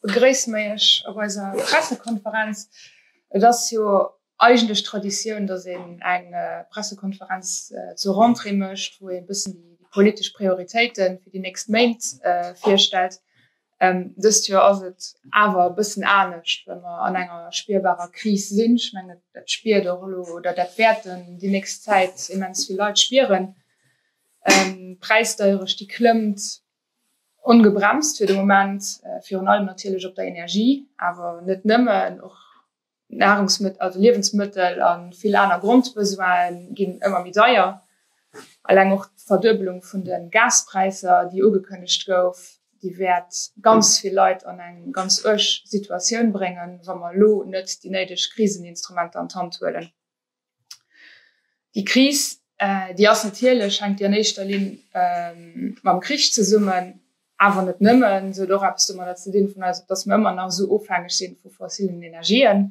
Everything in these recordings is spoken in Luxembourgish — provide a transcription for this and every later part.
Begréissen mei ech op eiser Pressekonferenz. Et ass jo eigentlech Traditioun, dass een eng Pressekonferenz zur Rentrée mécht, wou ee e bëssen déi politesch Prioritéite fir déi nächst Méint virstellt. Dëst Joer ass et awer e bëssen anescht, well mer an enger spierbarer Kris sinn. Ech mengen, dat spiert och elo oder dat wäerten déi nächst Zäit immens vill Leit spieren. D'Präisdeierecht, déi klëmmt, Ongebremst fir de Moment, virun allem natierlech op der Energie, awer net nëmmen, och Nahrungsmëttel, also Liewensmëttel a vill aner Grondbesoin'e ginn ëmmer méi deier. Eleng och d'Verduebelung vun de Gaspräisser, déi ugekënnegt gouf, déi wäert ganz vill Leit an eng ganz uerg Situatioun bréngen, wa mer elo net déi néideg Kriseninstrumenter an d'Hand huelen. Déi Kris, déi ass natierlech, hänkt déi an éischter Linn mam Krich zesummen, awer net nëmmen. Se huet och eppes domadder ze dinn, dass mer ëmmer nach esou ofhängeg si vu fossillen Energien.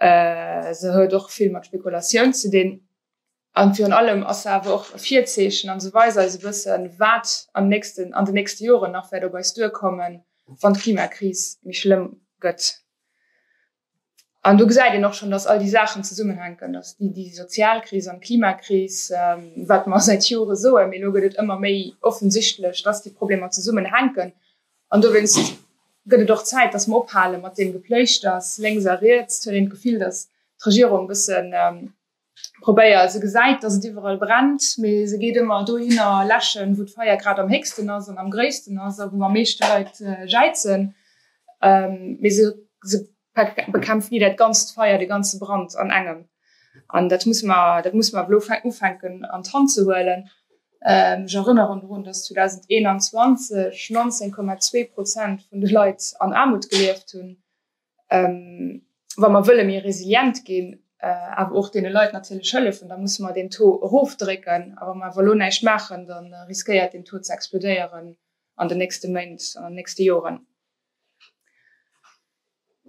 Se huet och vill mat Spekulatioun ze dinn. A virun allem ass se awer och e Virzeechen a se weist eis e bëssen, wat am nächsten, an den nächste Joren nach wäert op eis duerkommen, wann d'Klimakris méi schlëmm gëtt. An do gesäit een och schonn, dass all déi Saachen zesummenhänken, dass déi Sozialkris an d'Klimakris, wat mer säit Jore soen, mee elo gëtt et ëmmer méi offensichtlech, dass déi Problemer zesummenhänken. An dowéinst gëtt et och Zäit, dass mer ophale mat deem Gepléischters lénks a riets. Et huet een d'Gefill, dass d'Regierung e bëssen Probéier. Se gesäit, dass et iwwerall brennt, mee se geet ëmmer dohinner läschen, wou d'Feier grad am héchsten ass an am gréissten ass a wou am meeschte Leit jäizen. Mee se bekämpft ni dat ganzt Feier, de ganze Brand an engem. An dat musse mer, dat musse mer elo ufänken an d'Hand ze huelen. Ech erënneren drun, dass 2021 19,2 Prozent vun de Leit an Aarmut gelieft hunn. Wa mer wëlle méi resilient ginn, awer och deene Leit natierlech hëllefen, da musse mer deen Taux erofdrécken. A wa mer awer elo näischt maachen, da riskéiert deen Taux ze explodéieren an den nächste Méint an an den nächste Joren.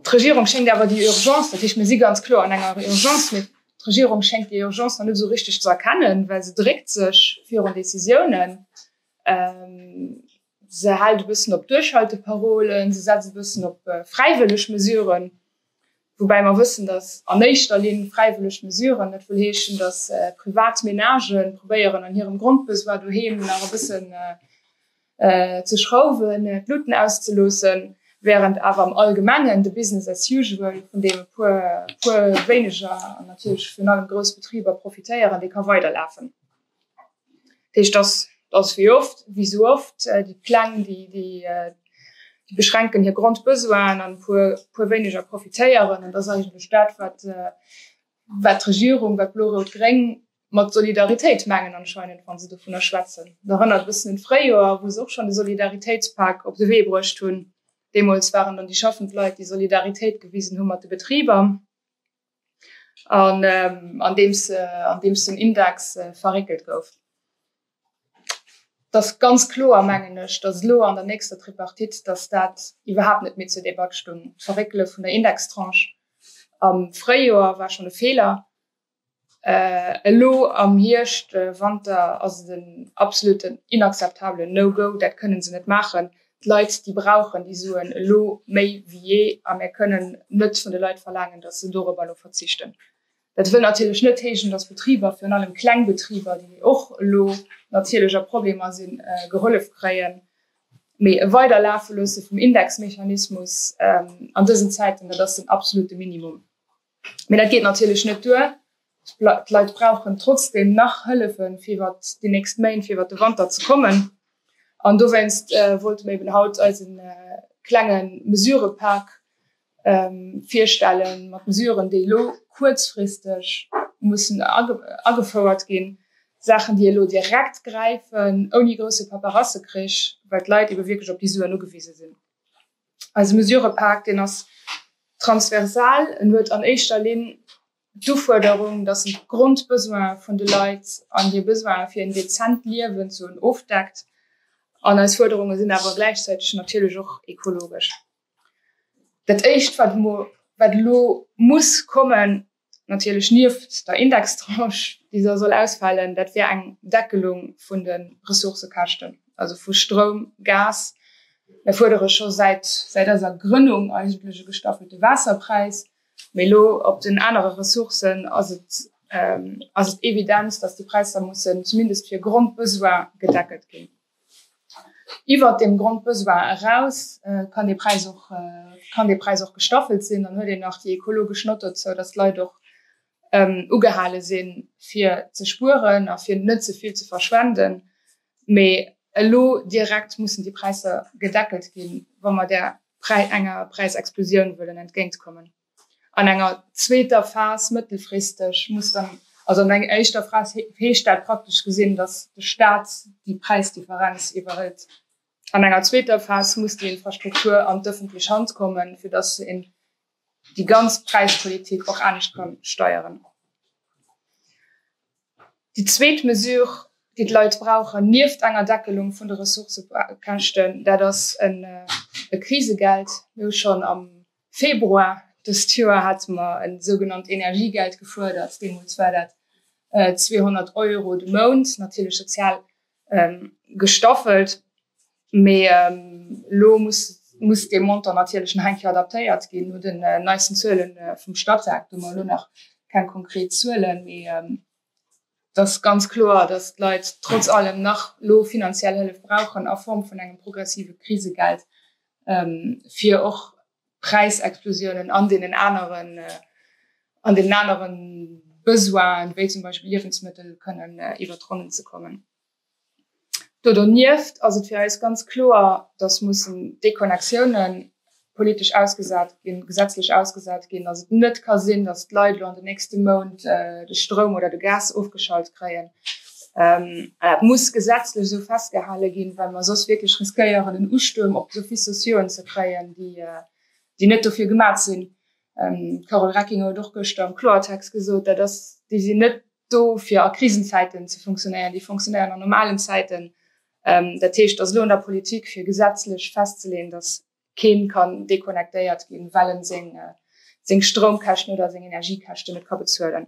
D'Regierung schéngt awer déi Urgence, dat heescht, mir si ganz kloer an enger Urgence, mee d'Regierung schéngt déi Urgence nach net esou richteg ze erkennen, well se dréckt sech virun Decisiounen. Se hält e bëssen op Duerchhalteparolen, se setzt e bëssen op fräiwëlleg Mesuren, woubäi mer wëssen, datt an éischter Linn fräiwëlleg Mesuren net wëll heeschen, datt privat Menagë probéieren, an hirem Grondbesoin doheem nach e bëssen ze schrauwen, d'Luuten auszeloossen, wärend awer am Allgemengen de Business as usual, vun deem e puer wéineger an natierlech virun allem grouss Betriber profitéieren, dee ka weiderlafen. Dat heescht, dass dass wéi oft, wéi esou oft, déi Pläng, déi déi déi beschränken hir Grondbesoinen an e puer e puer wéineger profitéieren. An dat ass eigentlech dat, wat wat d'Regierung, wat blo-rout-gréng mat Solidaritéit mengen anscheinend, wa se dovunner schwätzen. Dat erënnert e bëssen un d'Fréijoer, wou se och schonn de Solidaritéitspak op de Wee bruecht hunn. Deemools waren dann déi schaffend Leit, déi Solidaritéit gewisen hu mat de Betriber. an andeems an deems den Index verréckelt gouf. Et ass ganz kloer, mengen ech, datt elo an der nächster Tripartite, datt dat iwwerhaapt net méi zur Debatt stoung. D'Verréckele vun der Indextranche am Fréijoer war schonn e Feeler. Elo am Hierscht, Wanter ass et en absolutten inakzeptabelen No-Go. Dat kënne se net maachen. D'Leit, déi brauchen déi Suen elo méi wéi jee a mir kënnen net vun de Leit verlaangen, datt se dorobber elo verzichten. Dat wëll natierlech net heeschen, datt Betriber, virun allem kleng Betriber, déi och elo natierlech a Problemer sinn, gehollef kréien. Mee e Weiderlafeloosse vum Indexmechanismus an dësen Zäiten, dat ass den absolute Minimum. Mee dat geet natierlech net duer. D'Leit brauchen trotzdeem nach Hëllefe fir iwwer déi nächst Méint, fir iwwer de Wanter ze kommen. An dowéinst wollte mir eben haut eise klenge Mesurëpak virstellen, mat Mesuren, déi elo kuerzfristeg mussen agefouert ginn. Saachen, déi elo direkt gräifen, ouni grousse Paperassekrich, well d'Leit ebe wierklech op déi Suen ugewise sinn. Eise Mesurëpak, deen ass transversal. En huet an éischter Linn d'Ufuerderung, datt en d'Grondbesoine vun de Leit an hir Besoine fir en dezent Liewen ze hunn, ofdeckt. An eis Fuerderunge sinn awer gläichzäiteg natierlech och ekologesch. Dat Éischt, wat elo muss kommen, Natierlech nieft der Indextranche, déi da soll ausfalen, dat wär eng Deckelung vun de Ressourcekäschten, also vu Stroum, Gas. Mir fuerdere scho säit eiser Grënnung eigentlech e gestaffelte Waasserpräis, mee elo op den anere Ressourcen ass et ass et evident, datt déi Präisser mussen zumindest fir Grondbesoin gedeckelt ginn. Iwwert deem Grondbesoin eraus kann dee Präis och, kann dee Präis och gestaffelt sinn. Dann huet een nach déi ekologesch Nott dozou, dass d'Leit och ugehale sinn, fir ze spueren a fir net ze vill ze verschwenden. Mee elo direkt mussen déi Präisser gedeckelt ginn, wa mer där Präi, enger Präisexplosioun wëllen entgéintkommen. An enger zweeter Phas, mëttelfristeg, muss dann, also an enger éischter Phas heescht dat praktesch gesinn, datt de Staat déi Präisdifferenz iwwerhëlt, an enger zweeter Phas muss déi Infrastruktur an d'ëffentlech Hand kommen, fir datt een déi ganz Präispolitik och anescht ka steieren. Déi zweet Mesure, déi d'Leit brauchen, nieft enger Deckelung vun de Ressourcëkäschten, dat ass e Krisegeld. Mir hu schonn am Februar dëst Joer hate mer e sougenannt Energiegeld gefuerdert. Deemools war dat 200 Euro de Mount, natierlech sozial gestaffelt. Mee elo muss dee Montant natierlech nach eng Kéier adaptéiert ginn, no den neisten Zuele vum Statec. Do hu mer elo nach keng konkret Zuelen, mee Et ass ganz kloer, dass d'Leit trotz allem nach elo finanziell Hëllef brauchen a Form vun engem progressive Krisegeld, fir och Präisexplosionen an deenen aneren, an deenen anere Besoinen, wéi zum Beispill Liewensmëttel, kënnen iwwert d'Ronnen ze kommen. Do donieft ass et fir eis ganz kloer, dass mussen Déconnectiounen politesch ausgesat ginn, gesetzlech ausgesat ginn, dass et net ka sinn, dass d'Leit elo an den nächste Mount de Stroum oder de Gas ofgeschalt kréien. Dat muss gesetzlech esou festgehale ginn, well mer soss wierklech riskéieren, en Ustuerm op d'Offices sociaux ze kréien, déi net dofir gemaach sinn. D'Carole Recking huet och gëschter am Kloertext gesot, dat ass, déi sinn net do fir a Krisenzäiten ze funktionéieren, déi funktionéieren an normalen Zäiten. Dat heescht, et ass elo un der Politik, fir gesetzlech festzeleeën, datt kee kann deconnectéiert ginn, well e seng Stroumkäschten oder seng Energiekäschten net ka bezuelen.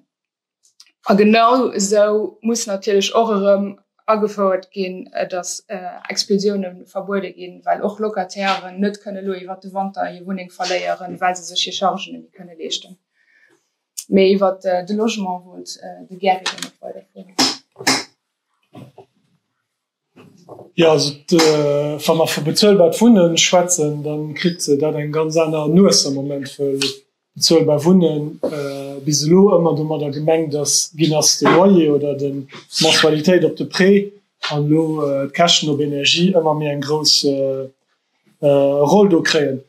A genau esou muss natierlech och erëm agefouert ginn, datt Expulsioune verbuede ginn, well och Locatairen net kënne elo iwwer de Wanter hir Wunneng verléieren, well se sech hir Chargen net méi kënne leeschten. Méi iwwer de Logement wollt de Gerry lo net weider froen. Jo, also wa mer vu bezuelbart Wunnen schwätzen, da kritt dat eng ganz aner Nues am Moment, well bezuelbar Wunnen bis elo ëmmer domadder gemengt ass ginn ass, de Loyer oder d'Mensualitéit op de Prêt an elo d'Käschten op Energie ëmmer méi eng grouss Roll do kréien.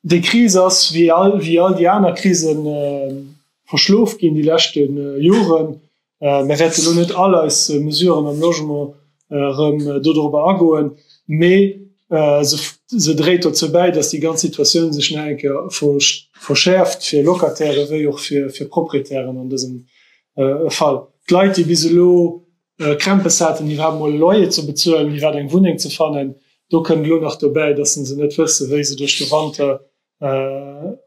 Déi Kris ass, wéi all déi aner Krisen, verschlof ginn déi leschte Joren. Mir wäerten elo net all eis Mesuren am Logement erëm dodrobber agoen, mee se dréit dozou bäi, datt déi ganz Situatioun sech nach eng Kéier verschäerft, fir Locataire wéi och fir Proprietären an dësem Fall. D'Leit, déi bis elo Krämpes haten, iwwerhaapt emol e Loyer ze bezuelen, iwwerhaapt eng Wunneng ze fannen. Do kënnt elo nach dobäi, dass se net wëssen, wéi se duerch de Wanter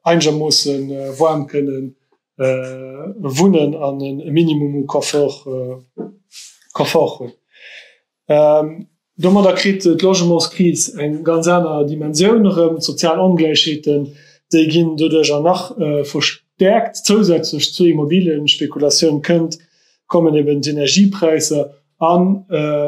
eigermoosse waarm kënne wunnen an e Minimum u Confort hunn. Domadder kritt d'Logementskris eng ganz aner Dimensioun erëm. D'sozial Ongläichheeten, déi ginn doduercher nach verstäerkt. Zousätzlech zur Immobiliënspekulation kënnt, kommen eben d'Energiepräisser a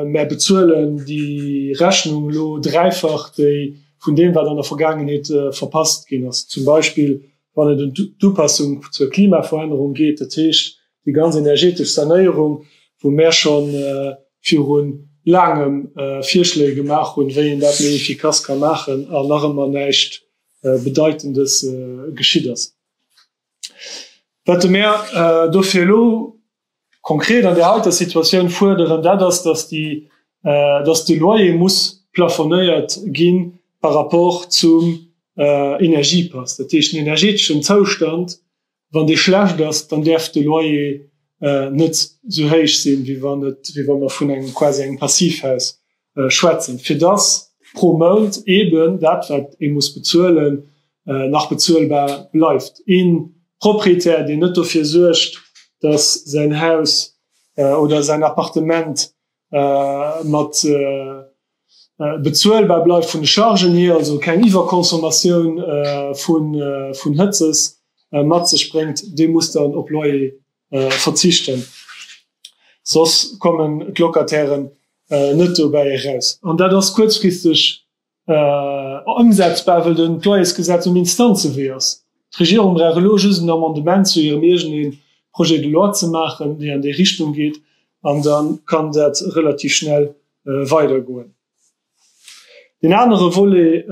mär bezuelen déi Rechnung elo dräifach, déi vun deem, wat an der Vergaangenheet verpasst ginn ass, zum Beispill wann et ëm d'Upassung zur Klimaverännerung geet, dat heescht Déi ganz energetesch Sanéierung, wou mär scho viru laangem Virschléi gemaach hunn, wéi een dat méi efficace ka maachen, an nach ëmmer näischt Bedeitendes geschitt ass, wat mär dofir elo konkret an där heiter Situatioun fuerderen, dat ass, dass déi, dass de Loyer muss plafonéiert gi par rapport zum Energiepass, dat heescht den energeteschen Zoustand Wann dee schlecht ass, dann däerf de Loyer net sou héich sinn, wéi wa mer vun engem quasi engem Passivhaus schwätzen, fir dass pro Mount eeben dat, wat ee muss bezuelen, nach bezuelbar bleift. Ee Proprietär, deen net dofir suergt, dass säin Haus oder säin Appartement mat bezuelbar bleift vun de Chargen hier, also keng Iwwerconsommatioun vun Hëtzes mat sech bréngt, dee muss dann op Loyer verzichten, soss kommen d'Locatairen net dobäi eraus. An dat ass kuerzfristeg Ëmsetzbar, wëll den d'Loyersgesetz um Instanzewee ass. D'Regierung brauch elo just en Amendement zu hirem eegene Projet de loi ze maachen, dee an déi Richtung geet, an da kann dat relativ schnell weidergoen. Deen anere Volet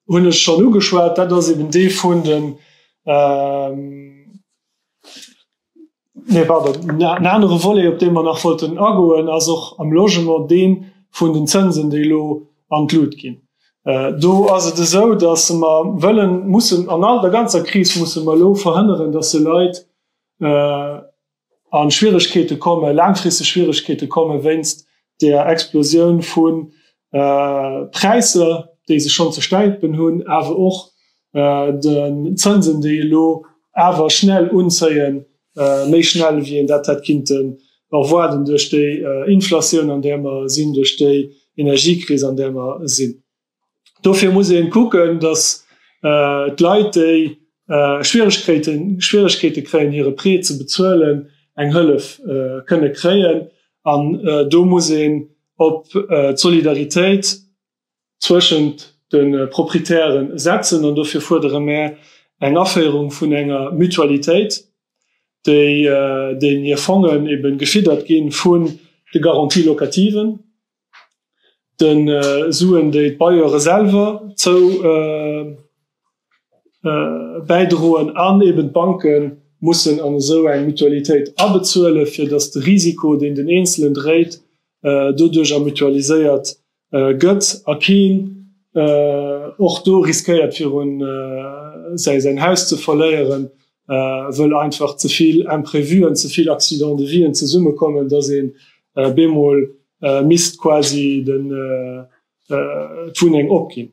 hunn ech schonn ugeschwat, dat ass eben dee vun den, Nee, pardon, en anere Volet, op dee mer nach wollten agoen, ass och am Logement dee vun den Zënsen, déi elo an d'Lut ginn. Do ass et esou, datt mer wëllen, mussen, an all der ganzer Kris musse mer elo verhënneren, datt de Leit a Schwieregkeete kommen, laangfristeg Schwieregkeete kommen, wéinst där Explosioun vu Präisser, déi sech schonn ze stäipen hunn, awer och den Zënsen, déi elo awer schnell unzéien, méi schnell wéi een dat hätt kinnte erwaarden duerch déi Inflatioun, an där mer sinn, duerch déi Energiekris, an där mer sinn. Dofir muss ee kucken, datt d'Leit, déi Schwieregkeete kréien, hire Prêt ze bezuelen, eng Hëllef kënne kréien. An do muss een op d'Solidaritéit zwëschent de Proprietäre setzen an dofir fuerdere mär eng Aféierung vun enger Mutualitéit, déi deenen hir Fongen ebe gefiddert gi vun de Garanties locativen, de Suen, déi d'Bailleuren selwer zou. bäidroen an eben d'Banke mussen an esou eng Mutualitéit abezuelen, fir datt de Risiko, deen den Eenzelen dréit, doduercher mutualiséiert gëtt a keen och do riskéiert, viru säin Haus ze verléieren, wëll einfach ze vill Imprevuen, ze vill Accidents de vien zesummekommen, datt een bemol misst quasi d'Wunneng opginn.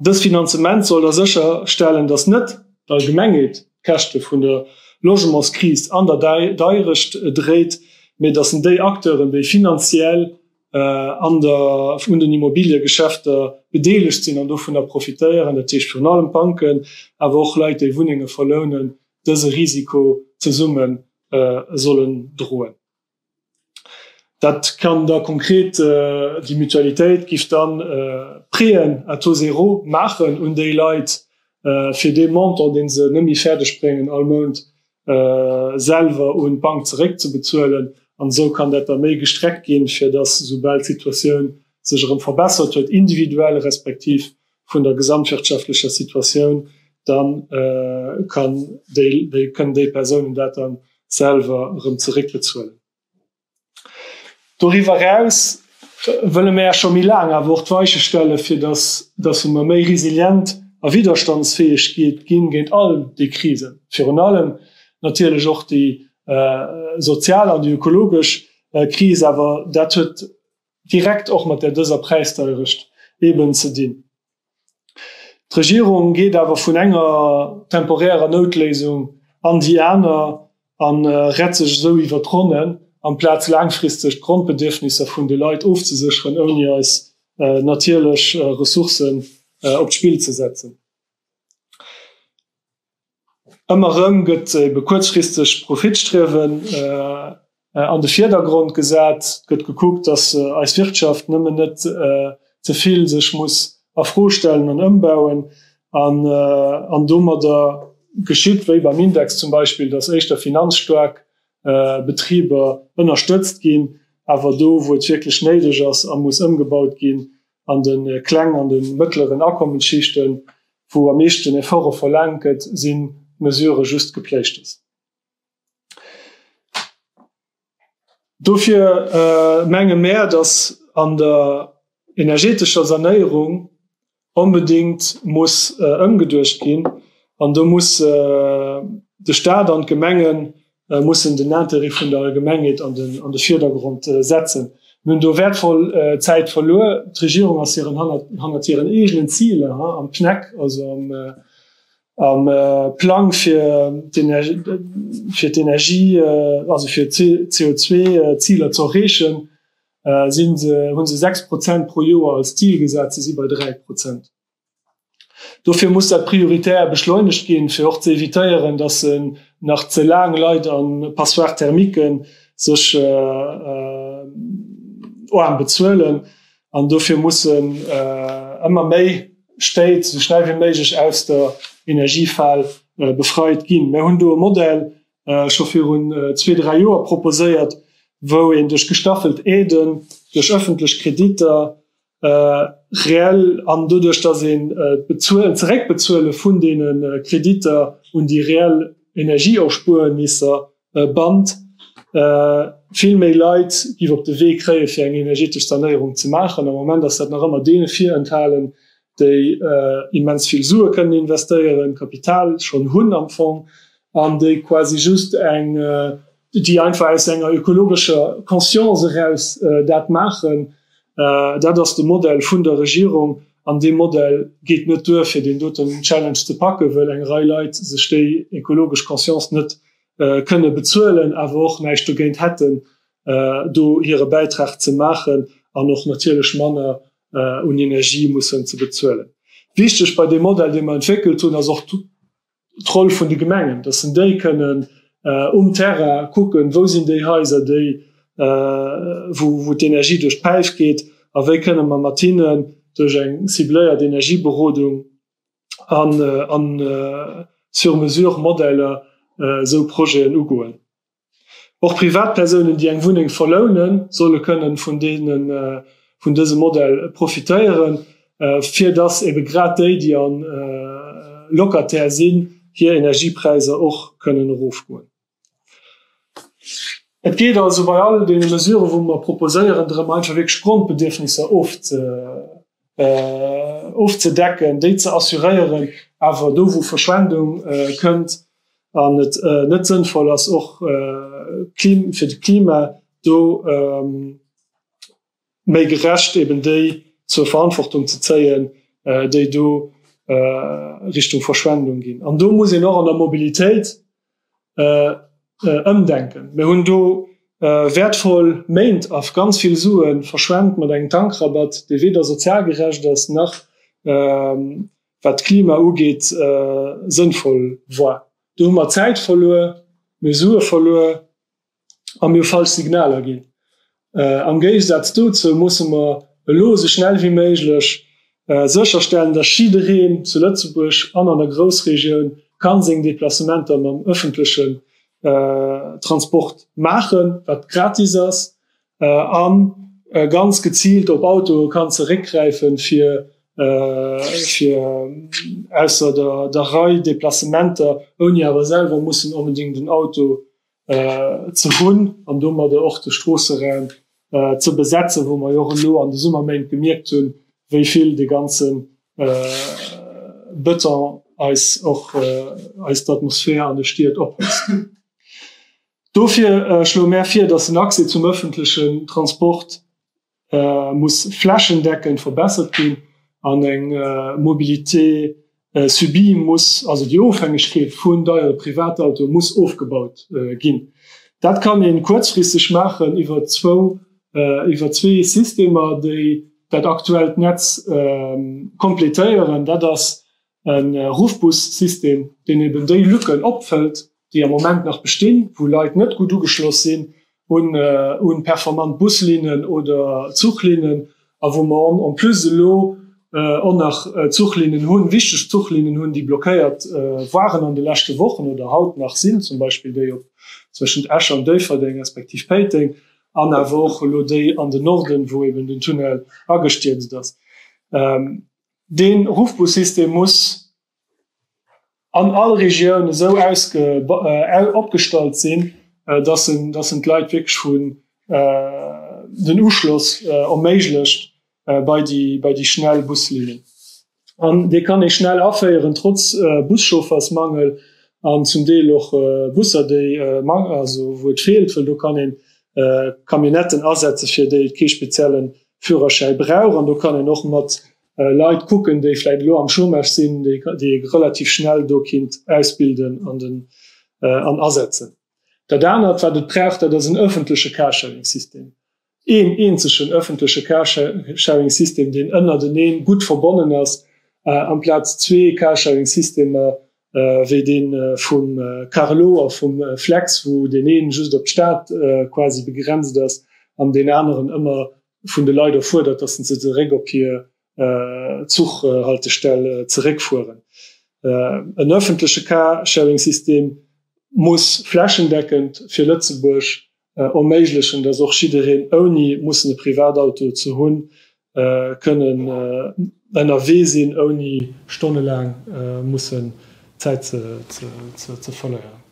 Dëst Finanzement soll da sécher stellen, dass net d'Allgemengheet d'Käschte vun der Logementskris an der Deirecht dréit, mee dass en déi Acteuren, déi finanziell an der un den Immobiliegeschäfter bedeelegt sinn an dovunner profitéieren, dat heescht virun allem d'Banken, awer och Leit, déi Wunnenge verlounen, dëse Risiko zesumme sollen droen. Dat kann da konkret, déi Mutualitéit giff dann Préeën à taux zéro maachen un déi Leit fir dee Montant deen se net méi fäerdeg bréngen all Mount selwer un d'Bank zeréck ze bezuelen. An esou kann dat da méi gestreckt ginn, fir dass, soubal d'Situatioun sech erëm verbessert huet, individuell respektiv vun der gesamtwirtschaftlecher Situatioun, da kënnen déi Persounen dat da selwer erëm zeréckbezuelen. Doriwwer eraus wëlle mer scho méi laang awer och d'Weiche stellen, fir dass datt mer méi resilient a widderstandsfäeg ginn géint all déi Krisen, virun allem natierlech och déi sozial an déi ökologesch Kris, awer dat huet direkt och mat där dëser Präisdeierecht eben ze dinn. D'Regierung geet awer vun enger temporärer Noutléisung an déi aner a rett sech esou iwwer d'Ronnen, amplaz laangfristeg d'Grondbedierfnisser vun de Leit ofzesécheren, ouni eis natierlech Ressourcen op d'Spill ze setzen. Ëmmer erëm gëtt ebe kuerzfristegt Profitstriewen an de Virdergrond gesat, gëtt gekuckt, dass eis Wirtschaft nëmmen net ze vill sech muss a Fro stellen an ëmbauen an domadder geschitt, wéi beim Index zum Beispill, dass éischter finanzstaark Betriber ënnerstëtzt ginn, awer do wou et wierklech néideg ass a muss ëmgebaut ginn, An de klengen an de mëttleren Akommensschichten, wou am meeschten Efforte verlaangt gëtt, si Mesurë just Gepléischtes. Dofir menge mär, datt an der energeetescher Sanéierung onbedéngt muss ëmgeduecht ginn an do musse de Staat an d'Gemengen mussen den Intérêt vun der Allgemengheet an de Virdergrond setzen. Mir hunn do wäertvoll Zäit verluer. D'Regierung ass hiren hannert hiren eegenen Ziler am PNEC, also am Plang fir d'Energie, also fir d'CO2-Ziler ze erreechen, hunn se 6 Prozent pro Joer als Zil gesat. Se si bei 3 Prozent. Dofir muss dat prioritär beschleunegt ginn, fir och ze evitéieren, dass en nach ze laang Leit a Passoires thermiqueën sech oarm bezuelen. An dofir mussen ëmmer méi Stéit esou schnell wéi méiglech aus der Energiefal befreit ginn. Mir hunn do e Modell scho virun zwee, dräi Joer proposéiert, wou een duerch gestaffelt Aiden, duerch ëffentlech Kreditter Reell an doduerch, dass een d'Bezuelen, d'Zeréckbezuele vun deene Kreditter un déi reell Energieerspuernisser bannt, vill méi Leit giff op de Wee kréien, fir eng energetesch Sanéierung ze maachen. Am Moment ass dat nach ëmmer deene virenthalen, déi immens vill Sue kënnen investéieren, Kapital schonn hunn am Fong, an déi quasi just eng, déi einfach aus enger ökologescher Conscience eraus dat maachen, dat ass de Modell vun der Regierung an dee Modell geet net duer, fir deen doten Challenge ze packen, wëll eng Rei Leit sech déi ökologesch Conscience net kënne bezuelen, awer och näischt dogéint hätten, do hire Bäitrag ze maachen an och natierlech manner un Energie mussen ze bezuelen. Wichteg bei deem Modell, dee mer entwéckelt hunn, ass och D'Roll vun de Gemengen, dass en déi kënnen um Terrain kucken, wou sinn déi Haiser, déi, wou d'Energie duerch d'Päif geet a wéi kënne mer mat hinnen duerch eng cibléiert Energieberodung an Sur-mesure-Modeller esou Projeten ugoen. Och Privatpersounen, déi eng Wunneng verlounen, solle kënnen vun dësem Modell profitéieren, fir dass ebe grad déi, déi Locataire sinn, hir Energiepräisser och kënnen erofgoen. Et geet also bei all deene Mesurë, wou mer proposéieren, drëm einfach wierklech d'Grondbedierfnisser ofzedecken. ofzedecken, déi ze assuréieren, awer do wou Verschwendung kënnt an et net sënnvoll ass och fir d'Klima do méi gerecht eben déi zur Verantwortung ze zéien, déi do Richtung Verschwendung ginn. An do muss een och an der Mobilitéit, ëmdenken. Mir hunn do wäertvoll Méint a ganz vill Sue verschwent mat engem Tankrabatt, dee weder sozial gerecht ass nach, wat d'Klima ugeet, sënnvoll war. Do hu mer Zäit verluer, mir hu Sue verluer a mir falsch Signaler ginn. Am Géigesaz dozou musse mer elo esou schnell wéi méiglech sécherstellen, dass jiddereen zu Lëtzebuerg an an der Groussregioun ka seng Deplacementer mam ëffentlechen Transport maachen, wat gratis ass, a ganz geziilt op Autoe kann zeréckgräifen, fir ausser der Rei Deplacementer, ouni awer selwer mussen onbedéngt en Auto ze hunn an domadder och de Stroosseraum ze besetzen, wou mer jo och elo an de Summerméint gemierkt hunn, wéi vill de ganze Bëton eis och eis d'Atmosphär an de Stied ophëtzt. Dofir schloe mär vir, dass den Accès zum öffentlechen Transport muss flächendeckend verbessert ginn an eng Mobilité subie muss, also déi Ofhängegkeet vun deiere Privatautoe muss ofgebaut ginn. Dat kann ee kuerzfristeg maachen iwwer zwee Systemer, déi dat aktuellt Netz kompletéieren. Dat ass e Ruffbussystem, deen eben déi Lücken opfëllt, déi am Moment nach bestinn, wou Leit net gutt ugeschloss sinn un performant Buslinnen oder Zuchlinnen, a wou mer en plus elo och nach Zuchlinnen hunn, wichteg Zuchlinnen hunn, déi blockéiert waren an de leschte Wochen oder haut nach sinn, zum Beispill déi zwëschent Esch an Déifferdeng, respektiv Péiteng, an awer och elo déi an den Norden, wou eben den Tunnel agestierzt ass. Dee Ruffbussystem muss an all Regioun esou opgestallt sinn, dass en d'Leit wierklech vun den Uschloss erméiglecht bei déi schnell Buslinnen. An dee kann ee schnell aféieren, trotz Buschauffersmangel an zum Deel och Busser, wou et feelt, well do kann ee Camionnetten asetze fir déi et kee speziellen Führerschäi brauch an do kann een och mat Leit kucken, déi vläit elo am Chômage sinn, déi ee relativ schnell do kinnt ausbilden an asetzen. Dat anert, wat et brauch, dat ass en öffentleche Carsharing-System, een eenzegen öffentleche Carsharing-System, deen ënnerteneen gutt verbonnen ass, amplaz zwee Carsharing-Systemer wéi dee vum Carlo a vum Flex, wou deen een just op d'Stad quasi begrenzt ass an deen aneren ëmmer vun de Leit erfuerdert, dass se zeréck op hir Zuchhaltestell zeréckfueren. En ëffentleche Car-Sharing-System muss flächendeckend fir Lëtzebuerg erméiglechen, dass och jiddereen, ouni mussen e Privatauto ze hunn, kënne ënnerwee sinn, ouni stonnelaang mussen Zäit ze verléieren.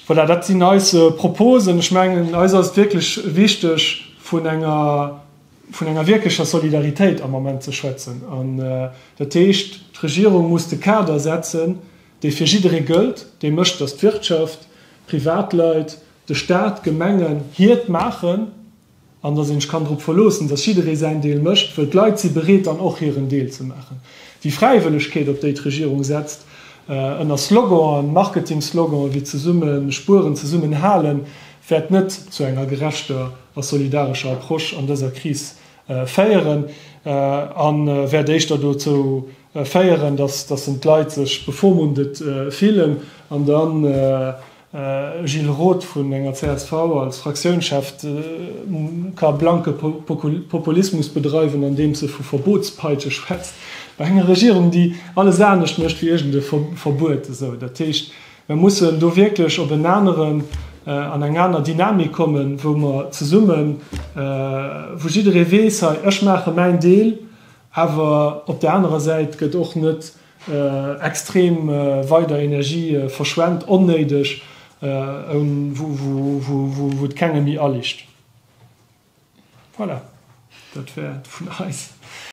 Voilà, dat sinn eis Proposen. Ech mengen, eis ass et wierklech wichteg, vun enger wierklecher Solidaritéit am Ament ze schwätzen. Dat heescht, d'Regierung muss de Kader setzen, dee fir jidderee gëllt, dee mécht, datt d'Wirtschaft, d'Privatleit, de Staat, d'Gemengen hiert maachen an datt ee sech kann drop verloossen, datt jidderee säin Deel mécht, wëll d'Leit si bereet dann och hiren Deel ze maachen. Déi Fräiwëllegkeet, op déi d'Regierung setzt, ënner Sloganen, Marketing-Sloganen wéi zesumme spueren, zesummen halen, wäert net zu enger gerechter a solidarescher Approche an dëser Kris féieren a wäert éischter dozou féieren, dass dassen d'Leit sech bevormundet fillen an da Gilles Roth vun enger csv als Fraktiounschef ka blanke Populismus bedreiwen andeems e vu Verbotspeitsche schwätzt bei enger Regierung déi alles anescht mécht wéi iergend e Verbuet. Esou dat heescht mer mussen do wierklech op en aneren, an eng aner Dynamik kommen, wou mer zesummen, wou jidderee weess hei ech maache mäin Deel Awer op der anerer Säit gëtt och net extrem weider Energie verschwent, onnéideg, wou et kengem méi aliicht. Voilà, dat wär et vun eis.